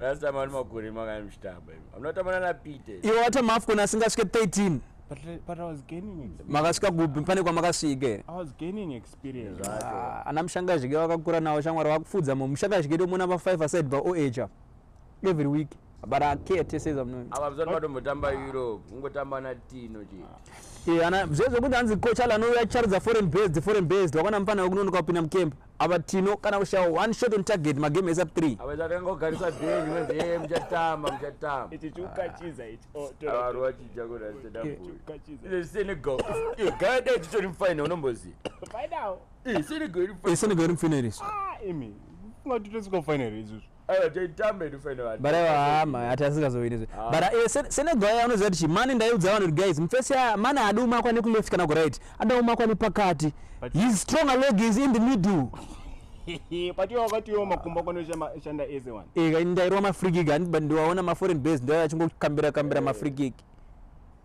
Last time ari makore makani muchitamba imi. Munotamba nana Pete. Iwo wata mafcon asingasvike 13. But, but I was gaining experience. Makasvika kupi pane kwamakasvika here? I was gaining experience. Ah, ana mushangazhike vakakura nawo shamwari vakufudza mu mushangazhike ndomona va 5 aside va oecha every week but I care to say something. Ava mzani vatombotamba Europe, ungotamba na Tino chete. Eh, ana zvezvo kuti hanzi coach Alan uya charidza foreign based, foreign based wakana mfana wekunonoka kupinda mukemba. ava tino kana kushaya one shot on target magame esa 3 avachakangogarisa benji wenzi e muchatamba muchatamba ichi chiukachiza ichi oh, avaru vachija kudasenegal gada ichitori mufaina unomboziva senegal iri mufaina iri imi ungatitosika mufaina iri izvozvo Aiwa Jay tamba edu fine vanhu. But aiwa hama hati asingazowini zve. Ah. But uh, eh, Senegal yao unoziva kuti mani ndaiudza vanhu guys mfesi ya mani adi umakwa neku left kana ku right. Ada umakwa nepakati. His strong leg is in the middle. But you wakati yo makumba kono shanda eze one. Eh, ndairwa ma free kick and ndiwaona ma foreign base ndio achingokambira kambira ma free kick.